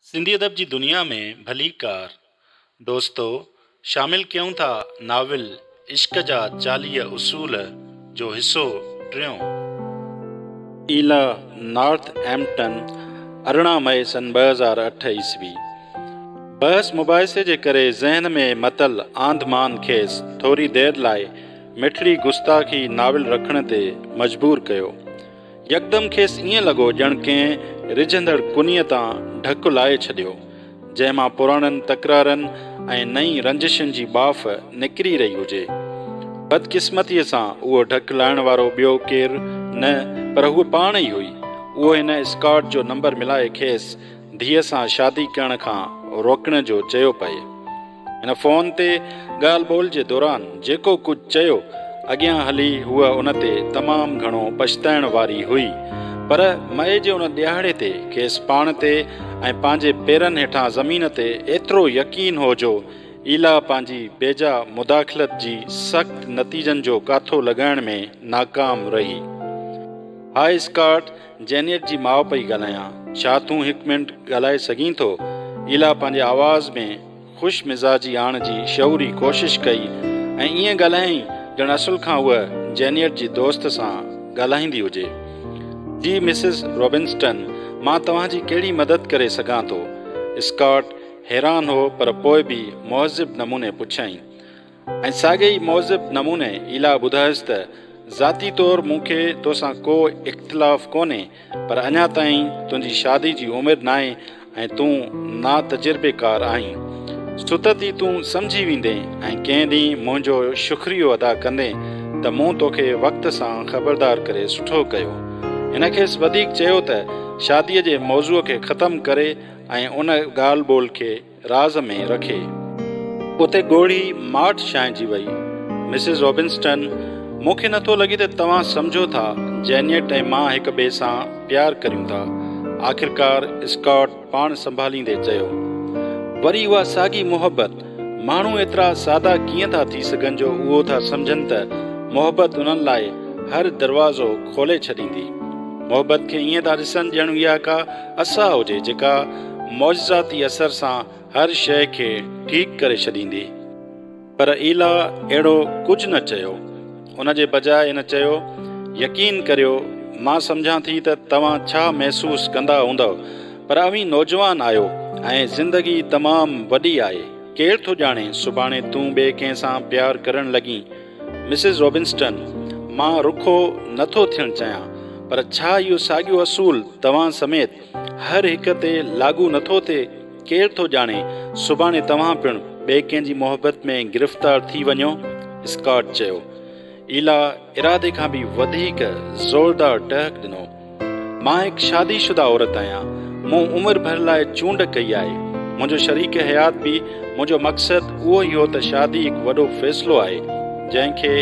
سنڌي ادب جي دنيا ۾ ڀليڪار، دوستو، شامل ڪيون ٿا ناول عشق جا چاليهه اصول جو حصو ٽيون. ايلا نارٿ ايمپٽن ارڙهن مئي سن ٻه هزار اٺ عيسوي بحث مباحثي جي ڪري ذهن ۾ متل آنڌ مان کيس ٿوري دير لاء مٺڙي گستاخي ناول رکڻ تي مجبور ڪيو. يڪدم کيس ائين لڳو ڄڻ ڪنهن رجهندڙ ڪنيء تان ڍڪ لاهي ڇڏيو، جنهن مان پراڻن تڪرارن ۽ نئين رنجشن جي ٻاڦ نڪري رهي هجي. بدقسمتيء سان اهو ڍڪ لاهڻ وارو ٻيو ڪير نه پر هوء پاڻ ئي هئي. اهو هن اسڪاٽ جو نمبر ملائي کيس ڌيء سان شادي ڪرڻ کان روڪڻ جو چيو پئي. هن فون تي ڳالهه ٻولهه جي دوران جيڪو ڪجهه چيو، اڳيان هلي هوء ان تي تمام گهڻو پڇتائڻ واري هئي، پر مئي جي ان ڏيهاڙي تي کيس پاڻ تي ۽ پنهنجي پيرن هيٺان زمين تي ايترو يقين هو جو ايلا پنهنجي بيجا مداخلت جي سخت نتيجن جو ڪاٿو لڳائڻ ۾ ناڪام رهي. هاء اسڪارٽ جينيٽ جي ماء پئي ڳالهايان، ڇا تون هڪ منٽ ڳالهائي سگهين ٿو؟ ايلا پنهنجي آواز ۾ خوش مزاجي آڻڻ جي شعوري ڪوشش ڪئي ۽ ائين ڳالهايائين ڄڻ اصل کان هوء جينيٽ جي دوست سان ڳالهائيندي هجي. جي مسز روبنسٽن، مان توهان جي ڪهڙي مدد ڪري سگهان ٿو؟ اسڪاٽ حيران هو پر پوء به مهذب نموني پڇيائين. ۽ ساڳئي ئي مهذب نموني ايلا ٻڌايس ته ذاتي طور مون کي توسان ڪو اختلاف ڪونهي پر اڃا تائين تنهنجي شادي جي عمر ناهي ۽ تون نا تجربيڪار آهين. ستت ئي تون سمجهي ويندين ۽ ڪنهن ڏينهن منهنجو شڪريو ادا ڪندين ته مون توکي وقت سان خبردار ڪري سٺو ڪيو. هن کيس وڌيڪ چيو ته شاديء جي موضوع کي ختم ڪري ۽ ان ڳالهه ٻولهه کي راز ۾ رکي. اتي ڳوڙهي ماٺ ڇانئجي وئي. مسز روبنسٽن، مون کي نٿو لڳي ته توهان سمجهو ٿا جينيٽ ۽ مان هڪ ٻئي سان پيار ڪريون ٿا. آخرڪار اسڪاٽ پاڻ سنڀاليندي چيو. وري اها ساڳي محبت! ماڻهو ايترا سادا ڪيئن ٿا ٿي سگهن جو اهو ٿا سمجهن ته محبت انهن لاء هر دروازو کولي ڇڏيندي. محبت کي ائين ٿا ڏسن ڄڻ اها ڪا اسا هجي جيڪا معجزاتي اثر سان هر شيء کي ٺيڪ ڪري ڇڏيندي. پر ايلا اهڙو ڪجهه نه چيو. ان جي بجاء هن چيو، يقين ڪريو، مان سمجهان ٿي ته توهان ڇا محسوس ڪندا هوندؤ، پر اوهين نوجوان آهيو ۽ زندگي تمام وڏي آهي. ڪير ٿو ڄاڻي سڀاڻي تون ٻئي ڪنهن سان پيار ڪرڻ لڳين. مسز روبنسٽن، مان رکو نه ٿو ٿيڻ چاهيان، پر ڇا اهو ساڳيو اصول، توهان سميت هر هڪ تي لاڳو نٿو ٿئي، ڪير ٿو ڄاڻي سڀاڻي توهان پڻ ٻئي ڪنهن جي محبت ۾ گرفتار ٿي وڃو. اسڪاٽ چيو. ايلا ارادي کان به وڌيڪ زوردار ٽهڪ ڏنو. مان هڪ شادي شده عورت آهيان، مون عمر ڀر لاء چونڊ ڪئي آهي. منهنجو شريڪ حيات به منهنجو مقصد اهو ئي هو ته شادي هڪ وڏو فيصلو آهي، جنهن کي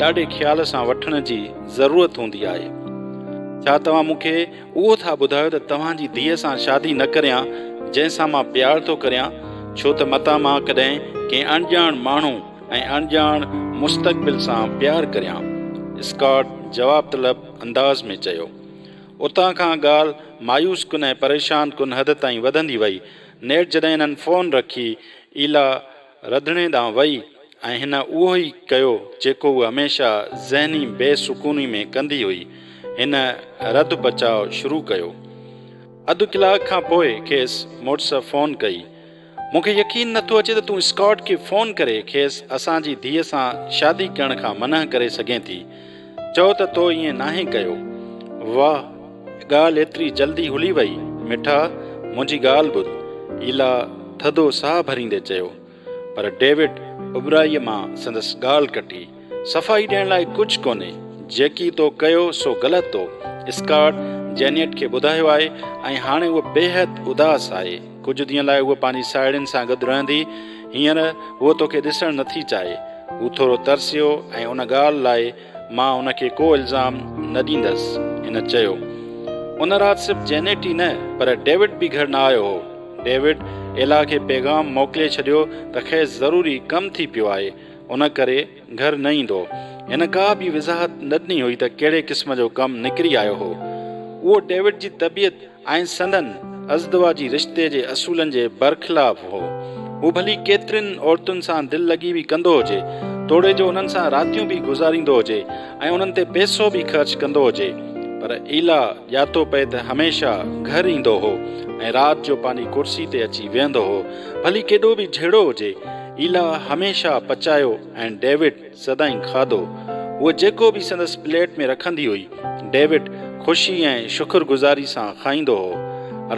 ڏاڍي خيال سان وٺڻ جي ضرورت هوندي آهي. ڇا توهان مون کي اهو ٿا ٻڌايو ته توهان جي ڌيء سان شادي نه ڪريان جنهن سان مان پيار ٿو ڪريان ڇو ته متان مان ڪڏهن ڪنهن اڻڄاڻ ماڻهو ۽ اڻڄاڻ مستقبل سان پيار ڪريان اسڪاٽ جواب طلب انداز ۾ چيو. اتان کان ڳالهه مايوس ڪن ۽ پريشان ڪن حد تائين وڌندي وئي نيٺ جڏهن هنن فون رکي ايلا رڌڻي ڏانهن وئي ۽ هن اهو ئي ڪيو جيڪو هوء هميشه ذهني بي سڪوني ۾ ڪندي هئي، هن رڌ پچاء شروع ڪيو. اڌ ڪلاڪ کان پوء کيس مڙس فون ڪئي. مون کي يقين نه ٿو اچي ته تون اسڪاٽ کي فون ڪري کيس اسان جي ڌيء سان شادي ڪرڻ کان منع ڪري سگهين ٿي. چئو ته تو ائين ناهين ڪيو. واهه ڳالهه ايتري جلدي هلي وئي. مٺا منهنجي ڳالهه ٻڌ. ايلا ٿڌو ساهه ڀريندي چيو. پر ڊيوڊ اٻهرائيء مان سندس ڳالهه ڪٽي. صفائي ڏيڻ لاء ڪجهه ڪونهي. جيڪي تو ڪيو سو غلط تو اسڪاٽ جينيٽ کي ٻڌايو آهي ۽ هاڻي هوء بيحد اداس آهي. ڪجهه ڏينهن لاء هوء پنهنجي ساهيڙين سان گڏ رهندي. هينئر هوء توکي ڏسڻ نٿي چاهي. هو ٿورو ترسيو ۽ ان ڳالهه لاء مان هن کي ڪو الزام نه ڏيندس. هن چيو. ان رات صرف جينيٽ ئي نه پر ڊيوڊ به گهر نه آيو هو. ڊيوڊ ايلا کي پيغام موڪلي ڇڏيو ته کيس ضروري ڪم ٿي پيو آهي. ان ڪري گهر نه ايندو. هن ڪا به وضاحت نه ڏني هئي ته ڪهڙي قسم جو ڪم نڪري آيو هو. اهو ڊيوڊ جي طبيعت ۽ سندن ازدواجي رشتي جي اصولن جي برخلاف هو. هو ڀلي ڪيترين عورتن سان دل لڳي به ڪندو هجي، توڙي جو انهن سان راتيون به گذاريندو هجي ۽ انهن تي پئسو به خرچ ڪندو هجي، پر ايلا ڄاتو پئي ته هميشه گهر ايندو هو ۽ رات جو پنهنجي ڪرسي تي اچي ويهندو هو، ڀلي ڪيڏو به جهيڙو هجي، ايلا هميشه پچايو ۽ ڊيوڊ. سدائين کاڌو هوء جيڪو به سندس پليٽ ۾ رکندي هئي، ڊيوڊ خوشي ۽ شڪر گذاري سان کائيندو هو.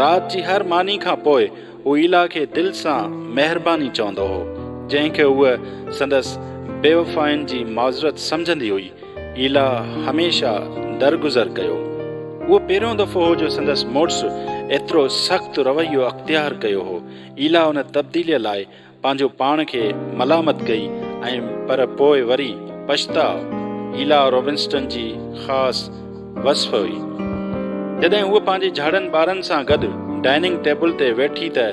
رات جي هر ماني کان پوء هو ايلا کي دل سان مهرباني چوندو هو، جنهن کي هوء سندس بيوفائين جي معذرت سمجهندي هئي. ايلا هميشه درگذر ڪيو. اهو پهريون دفعو هو جو سندس مڙس ايترو سخت رويو اختيار ڪيو هو. ايلا ان تبديليء لاء پنهنجو پاڻ کي ملامت ڪئي ۽ پر پوء وري پڇتاء ايلا روبنسٽن جي خاص وصف هئي. جڏهن هوء پنهنجي جهڙن ٻارن سان گڏ ڊائننگ ٽيبل تي ويٺي ته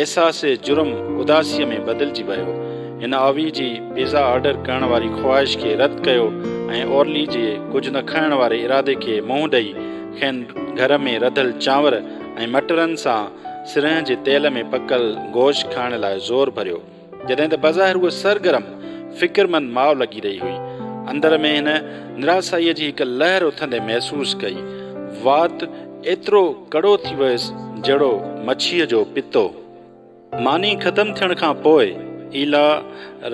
احساس جرم اداسيء ۾ بدلجي ويو. هن آوي جي پيزا آرڊر ڪرڻ واري خواهش کي رد ڪيو ۽ اورلي جي ڪجهه نه کائڻ واري ارادي کي منهن ڏئي کين گهر ۾ رڌل چانور ۽ مٽرن سان سرنهن جي تيل ۾ پڪل گوشت کائڻ لاء زور ڀريو، جڏهن ته بظاهر هوء سرگرم فڪرمند ماء لڳي رهي هئي. اندر ۾ هن نراسائيء جي هڪ لهر اٿندي محسوس ڪئي. وات ايترو ڪڙو ٿي ويس جهڙو مڇيء جو پتو. ماني ختم ٿيڻ کان پوء ايلا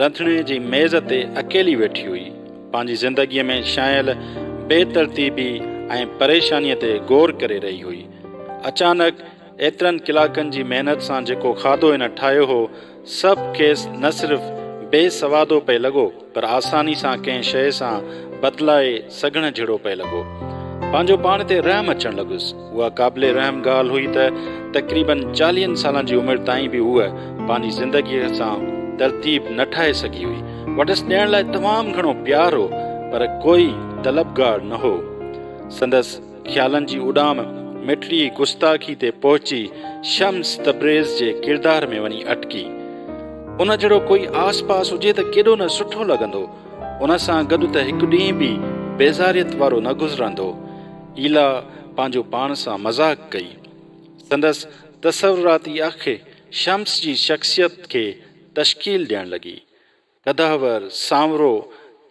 رنڌڻي جي ميز تي اڪيلي ويٺي هئي. پنهنجي زندگيء ۾ ڇانيل بي ترتيبي ۽ پريشانيء تي غور ڪري رهي هئي. اچانڪ ايترن ڪلاڪن جي محنت سان جيڪو کاڌو هن ٺاهيو هو، سڀ کيس نه صرف بي سوادو پئي لڳو، پر آساني سان ڪنهن شيء سان بدلائي سگهڻ جهڙو پئي لڳو. پنهنجو پاڻ تي رحم اچڻ لڳس. اها قابل رحم ڳالهه هئي ته تقريباً چاليهن سالن جي عمر تائين به هوء پنهنجي زندگيء سان ترتيب نه ٺاهي سگهي هئي. وٽس ڏيڻ لاء تمام گهڻو پيار هو، پر ڪوئي طلبگار نه هو. سندس. خيالن جي اڏام مٺڙي گستاخي تي پهچي شمس تبريز جي ڪردار ۾ وڃي اٽڪي. ان جهڙو ڪوئي آس پاس هجي ته ڪيڏو نه سٺو لڳندو. ان سان گڏ ته هڪ ڏينهن به بيزاريت وارو نه گذرندو. ايلا پنهنجو پاڻ سان مذاق ڪئي. سندس تصوراتي اک شمس جي شخصيت کي تشڪيل ڏيڻ لڳي. قدحور، سانورو،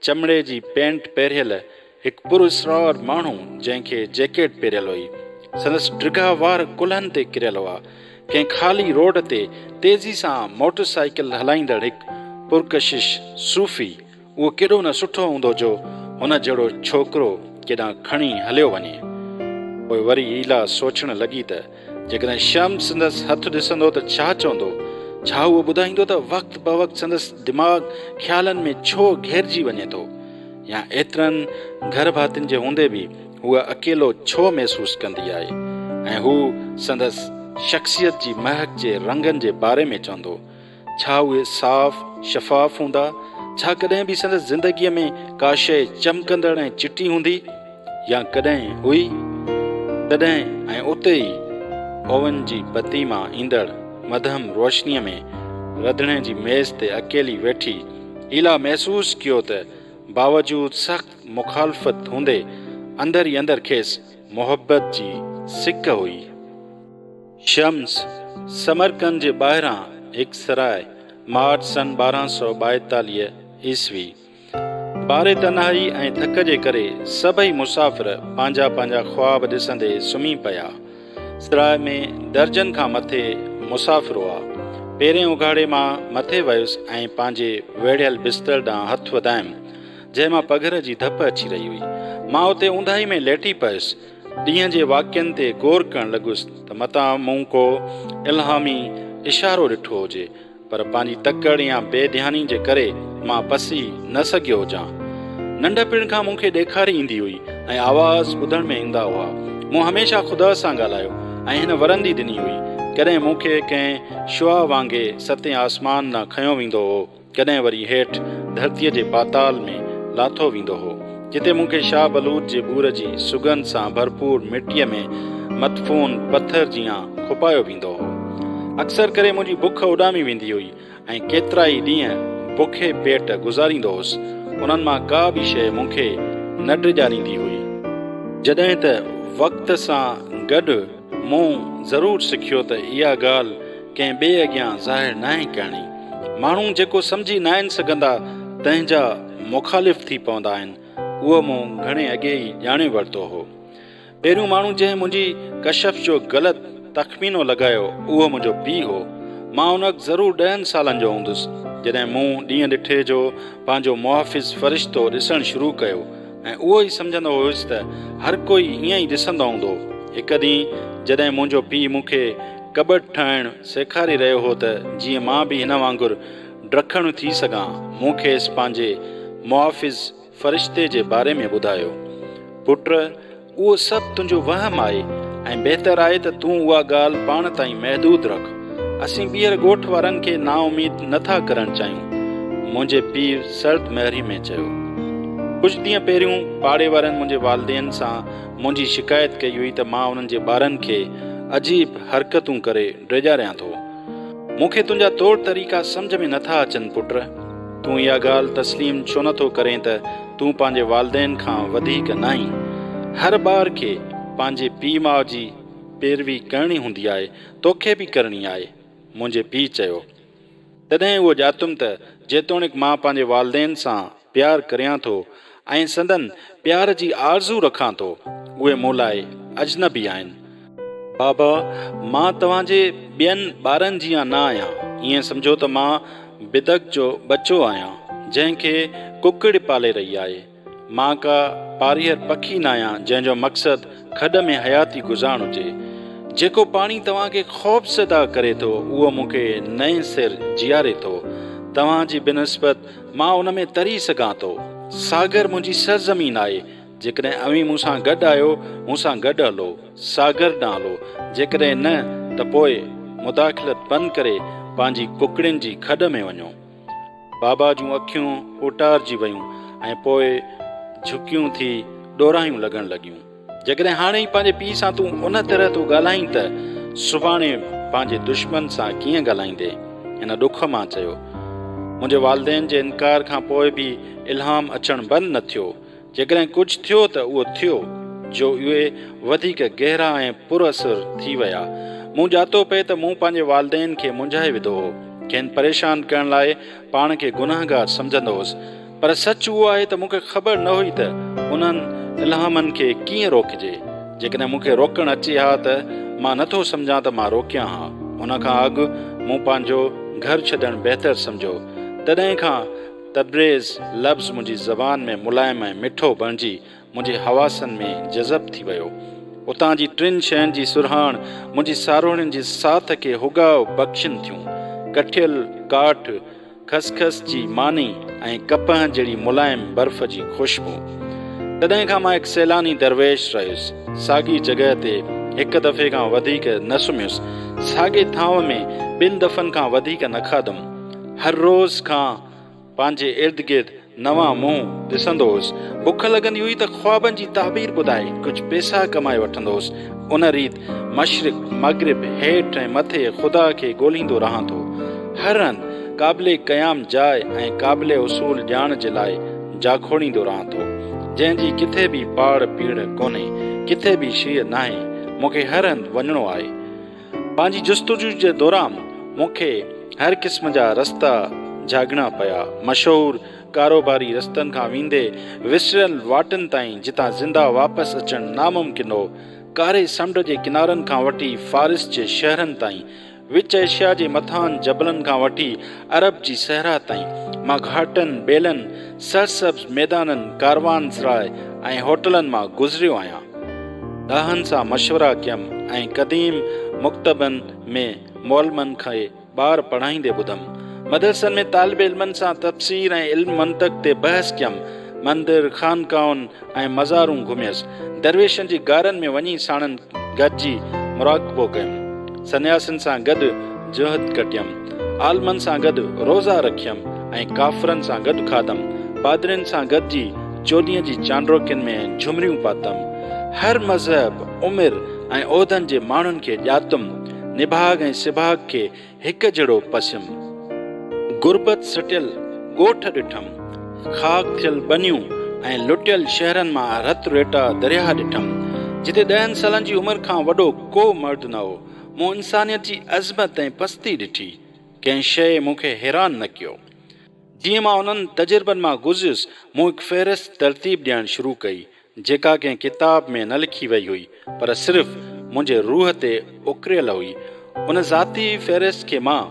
چمڙي جي پينٽ پهريل هڪ پر اسرار ماڻهو، جنهن کي جيڪيٽ پهريل هئي. سندس ڊگها وار ڪلهن تي ڪريل هئا. ڪنهن خالي روڊ تي تيزي سان موٽر سائيڪل هلائيندڙ هڪ پرڪشش صوفي، اهو ڪيڏو نه سٺو هوندو جو هن جهڙو ڇوڪرو ڪيڏانهن کڻي هليو وڃي. پوء وري ايلا سوچڻ لڳي ته جيڪڏهن شمس سندس هٿ ڏسندو ته ڇا چوندو؟ ڇا هو ٻڌائيندو ته وقت بوقت سندس دماغ خيالن ۾ ڇو گهيرجي وڃي ٿو؟ يا ايترن گهر ڀاتين جي هوندي به هوء اڪيلو ڇو محسوس ڪندي آهي؟ ۽ هو سندس شخصيت جي مهڪ جي رنگن جي باري ۾ چوندو؟ ڇا اهي صاف، شفاف هوندا؟ ڇا ڪڏهن به سندس زندگيء ۾ ڪا شيء چمڪندڙ ۽ چٽي هوندي؟ يا ڪڏهن هئي؟ تڏهن ۽ اتي ئي اوون جي بتي مان ايندڙ مدهم روشنيء ۾ رڌڻي جي ميز تي اڪيلي ويٺي ايلا محسوس ڪيو ته باوجود سخت مخالفت هوندي اندر ئي اندر کيس محبت جي سڪ هئي. شمس، سمرقند جي ٻاهران هڪ سرائي، مارچ سن ٻارهن سؤ ٻائيتاليهه عيسوي. باري تنهائي ۽ ڌڪ جي ڪري سڀئي مسافر پنهنجا پنهنجا خواب ڏسندي سمهي پيا. سرائي ۾ درجن کان مٿي مسافر هئا. پيرين اگهاڙي مان مٿي ويس ۽ پنهنجي ويڙهيل بستر ڏانهن هٿ وڌايم، جنهن مان پگهر جي ڌپ اچي رهي هئي. مان اتي اونداهي ۾ ليٽي پيس. ڏينهن جي واقعن تي غور ڪرڻ لڳس ته متان مون ڪو الهامي اشارو ڏٺو هجي، پر پنهنجي تڪڙ يا بي ڌياني جي ڪري مان پسي نه سگهيو هجان. ننڍپڻ کان مون کي ڏيکاري ايندي هئي ۽ آواز ٻڌڻ ۾ ايندا هئا. مون هميشه خدا سان ڳالهايو ۽ هن ورندي ڏني هئي، ڪڏهن مون کي ڪنهن شعاع وانگي ستين آسمان ڏانهن کنيو ويندو هو. ڪڏهن وري هيٺ ڌرتيء جي پاتال ۾ لاٿو ويندو هو، جتي مون کي شاهه بلوچ جي ٻور جي سگهن سان ڀرپور مٽيء ۾ مدفون پٿر جيان کپايو ويندو هو. اڪثر ڪري منهنجي بک اڏامي ويندي هئي ۽ ڪيترائي ڏينهن بکي پيٽ گذاريندو هوس، انهن مان ڪا به شيء مون کي نه ڊڄاريندي هئي. جڏهن ته وقت سان گڏ مون ضرور سکيو ته اها ڳالهه ڪنهن ٻئي اڳيان ظاهر ناهي ڪرڻي. ماڻهو جيڪو سمجهي ناهن سگهندا تنهن جا مخالف ٿي پوندا آهن، اهو مون گهڻي اڳي ئي ڄاڻي ورتو هو. پهريون ماڻهو جنهن منهنجي ڪشف جو غلط تخمينو لڳايو اهو منهنجو پيء هو. مان ان وقت ضرور ڏهن سالن جو هوندس جڏهن مون ڏينهن ڏٺي جو پنهنجو محافظ فرشتو ڏسڻ شروع ڪيو. ۽ اهو ئي سمجهندو هيس ته هر ڪوئي ائين ئي ڏسندو هوندو. هڪ ڏينهن جڏهن منهنجو پيء مون کي ڪٻٽ ٺاهڻ سيکاري رهيو هو ته جيئن مان به هن وانگر ڊکڻ ٿي سگهان، مون کيس پنهنجي محافظ فرشتي جي باري ۾ ٻڌايو. پٽ! اهو سڀ تنهنجو وهم آهي ۽ بهتر آهي ته تون اها ڳالهه پاڻ تائين محدود رک. اسين ٻيهر ڳوٺ وارن کي نااميد نه ٿا ڪرڻ چاهيون. منهنجي پيء سرد مهري ۾ چيو. ڪجهه ڏينهن پهريون پاڙي وارن منهنجي والدين سان منهنجي شڪايت ڪئي هئي ته مان انهن جي ٻارن کي عجيب حرڪتون ڪري ڊيڄاريان ٿو. مون کي تنهنجا طور طريقا سمجهه ۾ نٿا اچن پٽ. تون اها ڳالهه تسليم ڇو نٿو ڪرين ته تون پنهنجي والدين کان وڌيڪ ناهين. هر ٻار کي پنهنجي پيء ماء جي پيروي ڪرڻي هوندي آهي، توکي به ڪرڻي آهي. منهنجي پيء چيو. تڏهن اهو ڄاتم ته جيتوڻيڪ مان پنهنجي والدين سان. پيار ڪريان ٿو ۽ سندن پيار جي آرزو رکان ٿو، اهي مون لاء اجنبي آهن. بابا، مان توهان جي ٻين ٻارن جيان نه آهيان، ائين سمجهو ته مان بدڪ جو ٻچو آهيان، جنهن کي ڪڪڙ پالي رهي آهي. مان ڪا پاريهر پکي نه آهيان، جنهن جو مقصد کڏ ۾ حياتي گذارڻ هجي. جيڪو پاڻي توهان کي خوفزده ڪري ٿو، اهو مون کي نئين سر جياري ٿو. توهان جي بنسبت مان ان ۾ تري سگهان ٿو. ساگر منهنجي سرزمين آهي. جيڪڏهن اوهين مون سان گڏ آهيو، مون سان گڏ هلو. ساگر ڏانهن هلو. جيڪڏهن نه ته پوء مداخلت بند ڪري پنهنجي ڪڪڙين جي کڏ ۾ وڃو. بابا جون اکيون اوٽارجي ويون ۽ پوء جهڪيون ٿي ڏوراهيون لڳڻ لڳيون. جيڪڏهن هاڻي ئي پنهنجي پيء سان تون ان طرح ٿو ڳالهائين ته سڀاڻي پنهنجي دشمن سان ڪيئن ڳالهائيندي؟ هن ڏک مان چيو. منهنجي والدين جي انڪار کان پوء به الهام اچڻ بند نه ٿيو. جيڪڏهن ڪجهه ٿيو ته اهو ٿيو جو اهي وڌيڪ گهرا ۽ پراثر ٿي ويا. مون ڄاتو پئي ته مون پنهنجي والدين کي منجهائي وڌو هو. کين پريشان ڪرڻ لاء پاڻ کي گنهگار سمجهندو هوس. پر سچ اهو آهي ته مون کي خبر نه هئي ته انهن الهامن کي ڪيئن روڪجي. جيڪڏهن مون کي روڪڻ اچي ها ته مان نه ٿو سمجهان ته مان روڪيان ها. ان کان اڳ مون پنهنجو گهر ڇڏڻ بهتر سمجهيو. تڏهن کان تبريز لفظ منهنجي زبان ۾ ملائم ۽ مٺو بڻجي منهنجي حواسن ۾ جذب ٿي ويو. اتان جي ٽن شين جي سرهاڻ منهنجي ساروڻين جي ساٿ کي هوڳاء بخشين ٿيون. ڪٺيل ڪاٺ، خس خس جي ماني ۽ ڪپهه جهڙي ملائم برف جي خوشبو. تڏهن کان مان هڪ سيلاني درويش رهيس. ساڳي جڳهه تي هڪ دفعي کان وڌيڪ نه سمهيس. ساڳي ٿانو ۾ ٻن دفعن کان وڌيڪ نه کاڌم. هر روز کان. پنهنجي ارد گرد نوان منهن ڏسندو هوس. بک لڳندي هئي ته خوابن جي تعبير ٻڌائي ڪجهه پيسا ڪمائي وٺندو هوس. ان ريت مشرق، مغرب، هيٺ ۽ مٿي خدا کي ڳولهيندو رهان ٿو. هر هنڌ قابل قيام جاء ۽ قابل حصول ڄاڻ جي لاء جاکوڙيندو رهان ٿو. جنهن جي ڪٿي به پاڙ پيڙهه ڪونهي، ڪٿي به شيء ناهي، مون کي هر هنڌ وڃڻو آهي. پنهنجي جستجو جي دوران مون کي هر قسم جا رستا جهاڳڻا پيا، مشهور ڪاروباري رستن کان ويندي وسريل واٽن تائين جتان زنده واپس اچڻ ناممڪن هو، ڪاري سمنڊ جي ڪنارن کان وٺي فارس جي شهرن تائين، وچ ايشيا جي مٿاهن جبلن کان وٺي عرب جي صحرا تائين مان گهاٽن، ٻيلن، سرسبز ميدانن، ڪاروانسراء ۽ هوٽلن مان گذريو آهيان. ڏاهن سان مشورا ڪيم ۽ قديم مڪتبن ۾ معلمن کي ٻار پڙهائيندي ٻڌم. مدرسن ۾ طالب علمن سان تفسير ۽ علم منطق تي بحث ڪيم. مندر، خانقاهن، ۽ مزارون گهميس. درويشن جي غارن ۾ وڃي ساڻن گڏجي مراقبو ڪيم. سنياسين سان گڏ جهد ڪٽيم. عالمن سان گڏ روزا رکيم ۽ ڪافرن سان گڏ کاڌم. پادرين سان گڏجي چوڏهينء جي چانڊوڪين ۾ جهمريون پاتم. هر مذهب، عمر ۽ عهدن جي ماڻهن کي ڄاتم. نڀاڳ ۽ سڀاڳ کي هڪ جهڙو پسيم غربت سٽيل ڳوٺ ڏٺم، خاڪ ٿيل ٻنيون ۽ لٽيل شهرن مان رت ريٽا درياهه ڏٺم، جتي ڏهن سالن جي عمر کان وڏو ڪو مرد نه هو، مون انسانيت جي عظمت ۽ پستي ڏٺي، ڪنهن شيء مون کي حيران نه ڪيو. جيئن مان انهن تجربن مان گذريس، مون هڪ فهرست ترتيب ڏيڻ شروع ڪئي، جيڪا ڪنهن ڪتاب ۾ نه لکي وئي هئي، پر صرف منهنجي روح تي اڪريل هئي. ان ذاتي فهرست کي مان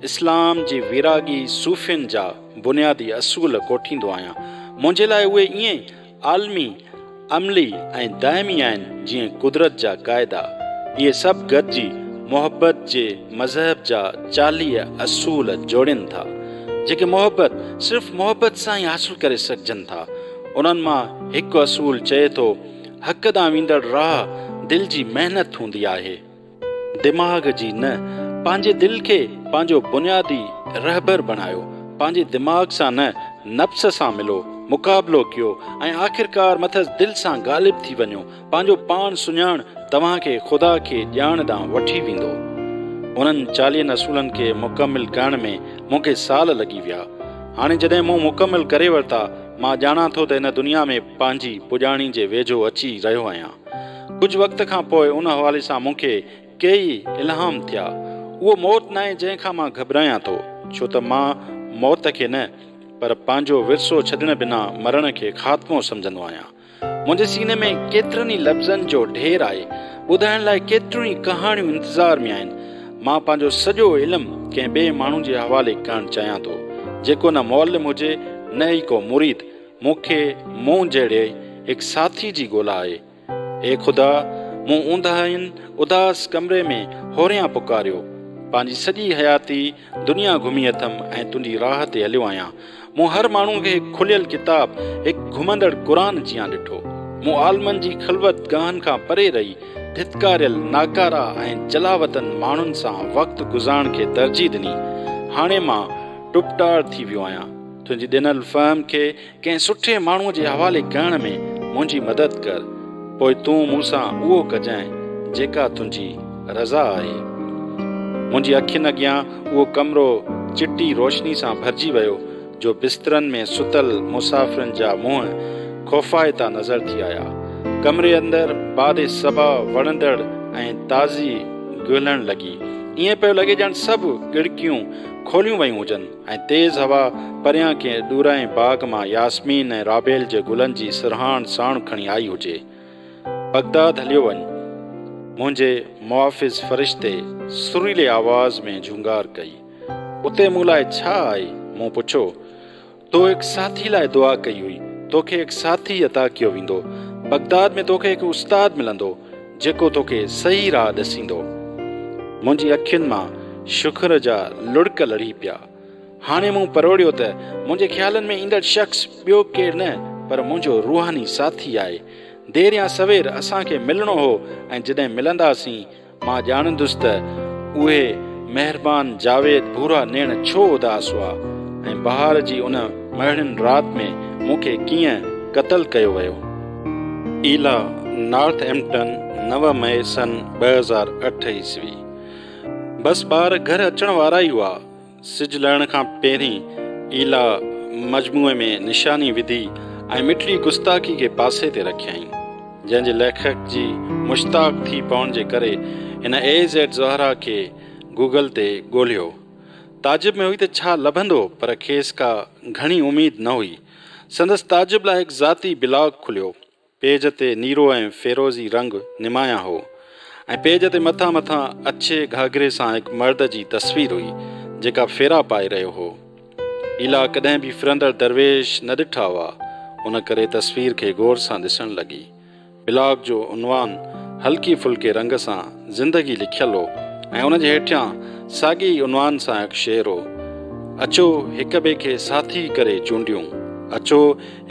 اسلام جي ويراڳي صوفين جا بنيادي اصول ڪوٺيندو آهيان. منهنجي لاء اهي ائين عالمي، عملي ۽ دائمي آهن جيئن قدرت جا قاعدا. اهي سڀ گڏجي محبت جي مذهب جا چاليهه اصول جوڙين ٿا، جيڪي محبت صرف محبت سان ئي حاصل ڪري سگهجن ٿا. انهن مان هڪ اصول چئي ٿو، حق ڏانهن ويندڙ راهه دل جي محنت هوندي آهي. دماغ جي نه. پنهنجي دل کي پنهنجو بنيادي رهبر بڻايو. پنهنجي دماغ سان نه، نفس سان ملو، مقابلو ڪيو ۽ آخرڪار مٿس دل سان غالب ٿي وڃو. پنهنجو پاڻ سڃاڻ توهان کي خدا کي ڄاڻ ڏانهن وٺي ويندو. انهن چاليهن اصولن کي مڪمل ڪرڻ ۾ مون کي سال لڳي ويا. هاڻي جڏهن مون مڪمل ڪري ورتا، مان ڄاڻان ٿو ته ان دنيا ۾ پنهنجي پڄاڻي جي ويجهو اچي رهيو آهيان. ڪجهه وقت کان پوء ان حوالي سان مون کي ڪيئي الهام ٿيا. اهو موت ناهي جنهن کان مان گهٻرايان ٿو، ڇو ته مان موت کي نه، پر پنهنجو ورثو ڇڏڻ بنا مرڻ کي خاتمو سمجهندو آهيان. منهنجي سيني ۾ ڪيترن ئي لفظن جو ڍير آهي، ٻڌائڻ لاء ڪيتريون ئي ڪهاڻيون انتظار ۾ آهن. مان پنهنجو سڄو علم ڪنهن ٻئي ماڻهو جي حوالي ڪرڻ چاهيان ٿو، جيڪو نه معلم هجي نه ئي ڪو مريد، مون کي مون جهڙي هڪ ساٿي جي ڳولا آهي. اي خدا! مون اونداهين اداس ڪمري ۾ هوريان پڪاريو، پنهنجي سڄي حياتي، دنيا گهمي اٿم ۽ تنهنجي راهه تي هليو آهيان. مون هر ماڻهوء کي هڪ کليل ڪتاب، هڪ گهمندڙ قرآن جيان ڏٺو. مون عالمن جي خلوت گاهن کان پري رهي، ڌتڪاريل، ناڪارا ۽ جلاوطن ماڻهن سان وقت گذارڻ کي ترجيح ڏني. هاڻي مان ٽپٽار ٿي ويو آهيان. تنهنجي ڏنل فهم کي ڪنهن سٺي ماڻهوء جي حوالي ڪرڻ ۾ منهنجي مدد ڪر، پوء تون مون سان اهو ڪجانء جيڪا تنهنجي رضا آهي. منهنجي اکين اڳيان اهو ڪمرو چٽي روشني سان ڀرجي ويو جو بسترن ۾ ستل مسافرن جا منهن خوفائتا نظر ٿي آيا. ڪمري اندر باد صبا وڻندڙ ۽ تازي گهلڻ لڳي. ائين پيو لڳي ڄڻ سڀ ڳڙڪيون کوليون ويون هجن. ۽ تيز هوا پريان ڪنهن ڏورانهين باغ مان ياسمين ۽ رابيل جي گلن جي سرهاڻ ساڻ کڻي آئي هجي. بغداد هليو وڃ. منهنجي محافظ فرشتي سريلي آواز ۾ جهونگار ڪئي. اتي مون لاء ڇا آهي؟ مون پڇو. تو هڪ ساٿي لاء دعا ڪئي هئي. توکي هڪ ساٿي عطا ڪيو ويندو. بغداد ۾ توکي هڪ استاد ملندو. جيڪو توکي صحيح راهه ڏسيندو. منهنجي اکين مان شڪر جا لڙڪ لڙهي پيا. هاڻي مون پروڙيو ته منهنجي خيالن ۾ ايندڙ شخص ٻيو ڪير نه پر منهنجو روحاني ساٿي آهي. دير يا سوير اسان کي ملڻو هو ۽ جڏهن ملنداسين مان ڄاڻندس ته اهي مهربان جاويد ڀورا نيڻ ڇو اداس هئا ۽ بهار جي ان مهڙين رات ۾ مون کي ڪيئن قتل ڪيو ويو. ايلا، نارٿ ايمپٽن، نو مئي سن ٻه هزار اٺ عيسوي، بس ٻار گهر اچڻ وارا ئي هئا. سج لهڻ کان پهرين ايلا مجموعي ۾ نشاني وڌي ۽ مٺڙي گستاخي کي پاسي تي رکيائين، جنهن جي ليکڪ جي مشتاق ٿي پوڻ جي ڪري هن اي زيڊ زهرا کي گوگل تي ڳولهيو. تعجب ۾ هئي ته ڇا لڀندو پر کيس ڪا گهڻي اميد نه هئي. سندس تعجب لاء هڪ ذاتي بلاگ کليو. پيج تي نيرو ۽ فيروزي رنگ نمايان هو ۽ پيج تي مٿان مٿان اڇي گهاگهري سان هڪ مرد جي تصوير هئي، جيڪا ڦيرا پائي رهيو هو. ايلا ڪڏهن به ڦرندڙ درويش نه ڏٺا هئا، ان ڪري تصوير کي غور سان ڏسڻ لڳي. بلاگ جو عنوان هلڪي ڦلڪي رنگ سان زندگي لکيل هو ۽ ان جي هيٺيان ساڳي ئي عنوان سان هڪ شعر هو، اچو هڪ ٻئي کي ساٿي ڪري چونڊيون، اچو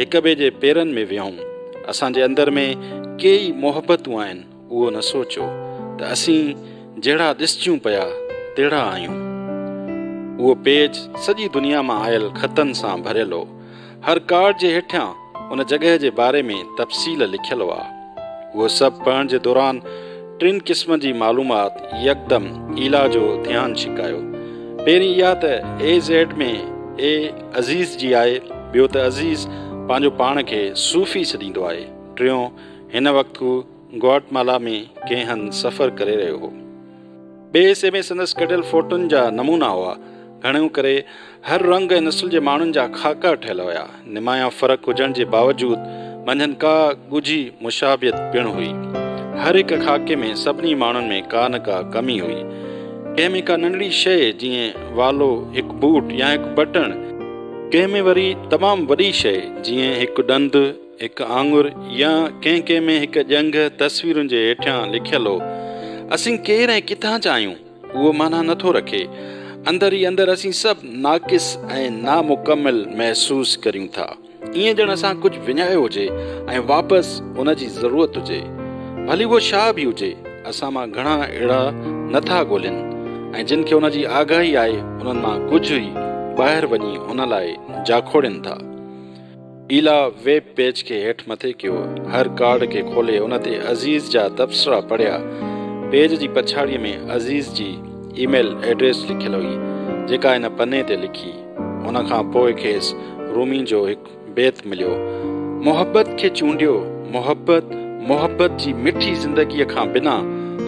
هڪ ٻئي جي پيرن ۾ ويهون، اسان جي اندر ۾ ڪي ئي محبتون آهن، اهو نه سوچيو ته اسين جهڙا ڏسجون پيا تهڙا آهيون. اهو پيج سڄي دنيا مان آيل خطن سان ڀريل هو. هر ڪارڊ جي هيٺيان ان جڳهه جي باري ۾ تفصيل لکيل هئا. اهو سڀ پڙهڻ جي دوران ٽن قسمن جي معلومات يڪدم ايلا جو ڌيان ڇڪايو. پهرين اها ته اي زيڊ ۾ اي عزيز جي آهي، ٻيو ته عزيز پنهنجو پاڻ کي صوفي سڏيندو آهي، ٽيون هن وقت هو گوئٽمالا ۾ ڪنهن هنڌ سفر ڪري رهيو هو. ٻئي حصي ۾ سندس ڪڍيل فوٽن جا نمونا هئا. گهڻو ڪري هر رنگ ۽ نسل جي ماڻهن جا خاڪا ٺهيل هيا. نمايان فرق هجڻ جي باوجود منجهن ڪا ڳجهي مشابهت پڻ هئي. هر هڪ خاڪي ۾ سڀني ماڻهن ۾ ڪا نه ڪا ڪمي هئي. ڪنهن ۾ ڪا ننڍڙي شيء جيئن والو، هڪ بوٽ يا هڪ بٽڻ، ڪنهن ۾ وري تمام وڏي شيء جيئن هڪ ڏند، هڪ آڱر يا ڪنهن ڪنهن ۾ هڪ ڄنگهه تصويرن جي هيٺيان لکيل هو. اسين ڪير ۽ ڪٿان جا آهيون، اهو معنيٰ نه ٿو رکي. اندر ئي اندر اسين سڀ ناقص ۽ نامڪمل محسوس ڪريون ٿا. ائين ڄڻ اسان ڪجهه وڃايو هجي ۽ واپس ان جي ضرورت هجي. ڀلي اهو شاهه به هجي. اسان مان گهڻا اهڙا نه ٿا ڳولين ۽ جن کي ان جي آگاهي آهي، انهن مان ڪجهه ئي ٻاهر وڃي ان لاء جاکوڙين ٿا. ايلا ويب پيج کي هيٺ مٿي ڪيو. هر ڪارڊ کي کولي ان تي عزيز جا تبصرا پڙهيا. پيج جي پڇاڙيء ۾ عزيز جي اي ميل ايڊريس لکيل هئي، جيڪا هن پني تي لکي. ان کان پوء کيس رومي جو هڪ بيت مليو. محبت کي چونڊيو، محبت، محبت جي مٺي زندگيء کان بنا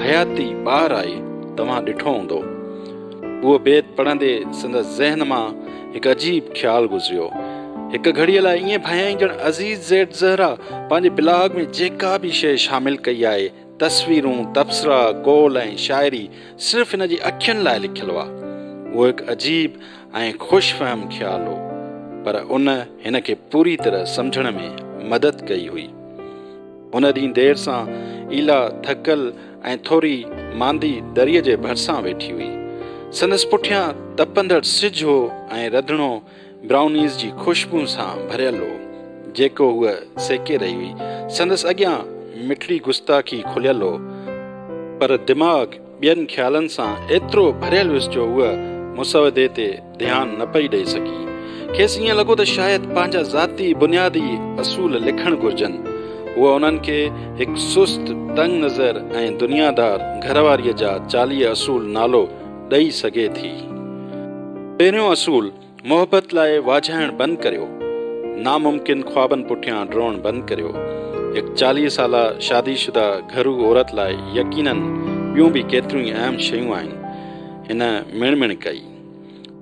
حياتي ٻاهر آهي، توهان ڏٺو هوندو. اهو بيت پڙهندي سندس ذهن مان هڪ عجيب خيال گذريو. هڪ گهڙيء لاء ائين ڀانيائين ڄڻ عزيز زيڊ زهره پنهنجي بلاگ ۾ جيڪا به شيء شامل ڪئي آهي، تصويرون، تبصرا، قول ۽ شاعري صرف هن جي اکين لاء لکيل هئا. اهو هڪ عجيب ۽ خوش فهم خيال هو، پر ان هن کي پوري طرح سمجهڻ ۾ مدد ڪئي هئي. هن ڏينهن دير سان ايلا ٿڪل ۽ ٿوري ماندي دريء جي ڀرسان ويٺي هئي. سندس پٺيان تپندڙ سج هو ۽ رڌڻو برائونيز جي خوشبو سان ڀريل هو، جيڪو هوء سيڪي رهي هئي. سندس اڳيان مٺڙي گستاخي کليل هو، پر دماغ ٻين خيالن سان ايترو ڀريل هيس جو هوء مسودي تي ڌيان نه پئي ڏئي سگهي. کيس ائين لڳو ته شايد پنهنجا ذاتي بنيادي اصول لکڻ گهرجن. هوء انهن کي هڪ سست، تنگ نظر ۽ دنيادار گهر واريء جا چاليهه اصول نالو ڏئي سگهي ٿي. پهريون اصول، محبت لاء واجهائڻ بند ڪريو، ناممڪن خوابن پٺيان ڊوڙڻ بند ڪريو. هڪ چاليهه سالا شادي شده گهرو عورت لاء يقينن ٻيون به ڪيتريون ئي اهم شيون آهن. هن مڻ مڻ ڪئي.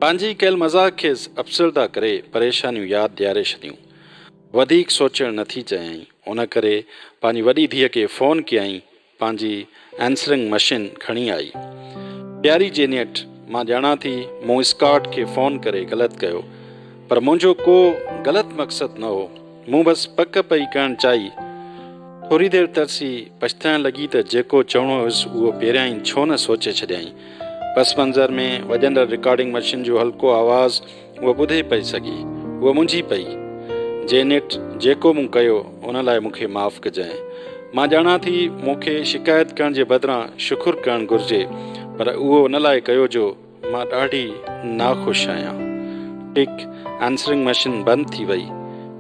پنهنجي ڪيل مذاق کيس افسرده ڪري پريشانيون ياد ڏياري ڇڏيون. وڌيڪ سوچڻ نٿي چيائين. ان ڪري پنهنجي وڏي ڌيء کي فون ڪيائين پنهنجي ائنسرنگ مشين کڻي آئي. پياري جينيٽ، مان ڄاڻان ٿي مون اسڪاٽ کي فون ڪري غلط ڪيو، پر منهنجو ڪو غلط مقصد نه هو. مون بس پڪ پئي ڪرڻ چاهي. ٿوري دير ترسي پڇتائڻ لڳي ته جيڪو چوڻو هيس اهو پهريائين ڇو نه سوچي ڇڏيائين. پس منظر ۾ وڄندڙ رڪارڊنگ مشين جو هلڪو آواز هوء ٻڌي پئي سگهي. هوء منجهي پئي. جينيٽ، جيڪو مون ڪيو، ان لاء مون کي معاف ڪجانء. مان ڄاڻان ٿي، مون کي شڪايت ڪرڻ جي بدران شڪر ڪرڻ گهرجي، پر اهو ان لاء ڪيو جو مان ڏاڍي ناخوش آهيان. ٽڪ، آنسرنگ مشين بند ٿي وئي.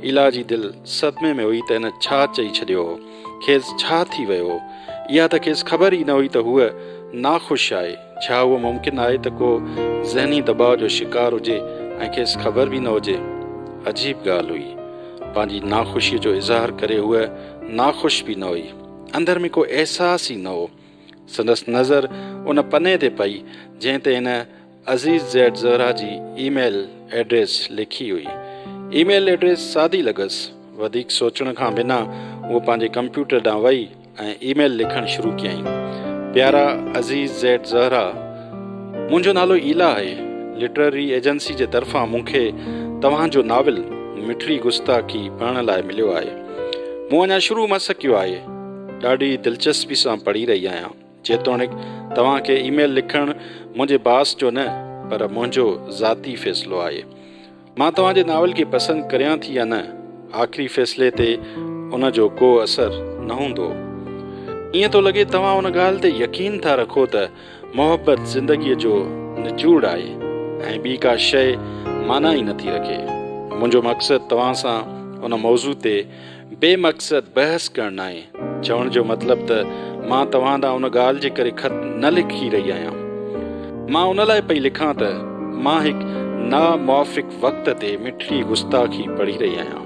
ايلا جي دل صدمي ۾ هئي ته هن ڇا چئي ڇڏيو هو. کيس ڇا ٿي ويو هو. اها ته کيس خبر ئي نه هئي ته هوء ناخوش آهي. ڇا اهو ممڪن آهي ته ڪو ذهني دٻاء جو شڪار هجي ۽ کيس خبر به نه هجي؟ عجيب ڳالهه هئي. پنهنجي ناخوشيء جو اظهار ڪري هوء ناخوش به نه هئي. اندر ۾ ڪو احساس ئي نه هو. سندس نظر ان پني تي پئي، جنهن تي هن عزيز زيڊ زهره جي اي ميل ايڊريس لکي هئي. اي ميل ايڊريس سادي لڳس. وڌيڪ سوچڻ کان بنا هوء پنهنجي ڪمپيوٽر ڏانهن وئي. ۽ اي ميل لکڻ شروع ڪيائين. پيارا عزيز زيڊ زهرا، منهنجو نالو ايلا آهي. لٽرري ايجنسي جي طرفان مون کي توهان جو ناول مٺڙي گستاخي پڙهڻ لاء مليو آهي. مون اڃا شروع مس ڪيو آهي. ڏاڍي دلچسپي سان پڙهي رهي آهيان. جيتوڻيڪ توهان کي اي ميل لکڻ منهنجي باس جو نه پر منهنجو ذاتي فيصلو آهي. مان توهان جي ناول کي پسند ڪريان ٿي يا نه، آخري فيصلي تي ان جو ڪو اثر نه هوندو. ائين ٿو لڳي توهان ان ڳالهه تي يقين ٿا رکو ته محبت زندگيء جو نچوڙ آهي ۽ ٻي ڪا شيء معنيٰ ئي نٿي رکي. منهنجو مقصد توهان سان ان موضوع تي بي مقصد بحث ڪرڻ ناهي. چوڻ جو مطلب ته مان توهان ڏانهن ان ڳالهه جي ڪري خط نه لکي رهي آهيان. مان ان لاء پئي لکان ته مان هڪ ناموافق وقت تي مٺڙي گستاخي پڙهي رهي آهيان.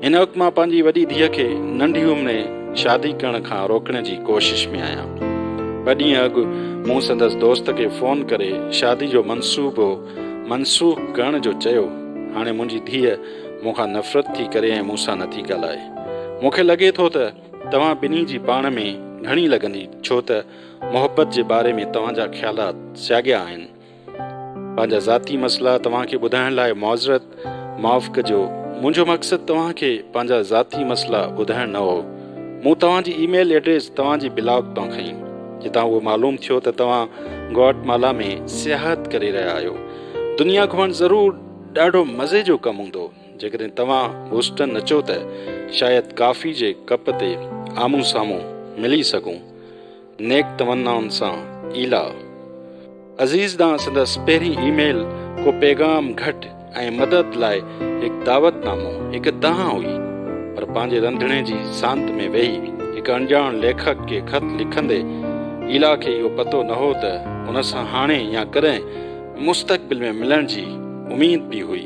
هن وقت مان پنهنجي وڏي ڌيء کي ننڍي عمري شادي ڪرڻ کان روڪڻ جي ڪوشش ۾ آهيان. ٻه ڏينهن اڳ مون سندس دوست کي فون ڪري شادي جو منصوبو منسوخ ڪرڻ جو چيو. هاڻي منهنجي ڌيء مون کان نفرت ٿي ڪري ۽ مون سان نٿي ڳالهائي. مون کي لڳي ٿو ته توهان ٻنهي جي پاڻ ۾ گهڻي لڳندي ڇو ته محبت جي باري ۾ توهان جا خيالات سياڳيا آهن. پنهنجا ذاتي مسئلا توهان کي ٻڌائڻ لاء معذرت. معاف ڪجو. منهنجو مقصد توهان کي پنهنجا ذاتي مسئلا ٻڌائڻ نه هو. مون توهان جي اي ميل ايڊريس توهان جي بلاگ تان کنئي جتان اهو معلوم ٿيو ته توهان گوئٽ مالا ۾ سياحت ڪري رهيا آهيو. دنيا گهمڻ ضرور. ڏاڍو مزي جو ڪم هوندو. جيڪڏهن توهان بوسٽن اچو ته شايد ڪافي جي ڪپ تي آمهون سامهون ملي سگهون. نيڪ تمنائن سان ايلا. عزيز ڏانهن سندس پهرين اي ميل ڪو پيغام گهٽ ۽ مدد لاء هڪ دعوت نامو هڪ دانهن هئي. پر پنهنجي رنڌڻي جي سانت ۾ ويهي هڪ اڻڄاڻ ليکڪ کي خط لکندي ايلا کي اهو پتو نه هو ته هن سان هاڻي يا ڪڏهن مستقبل ۾ ملڻ جي اميد به هئي.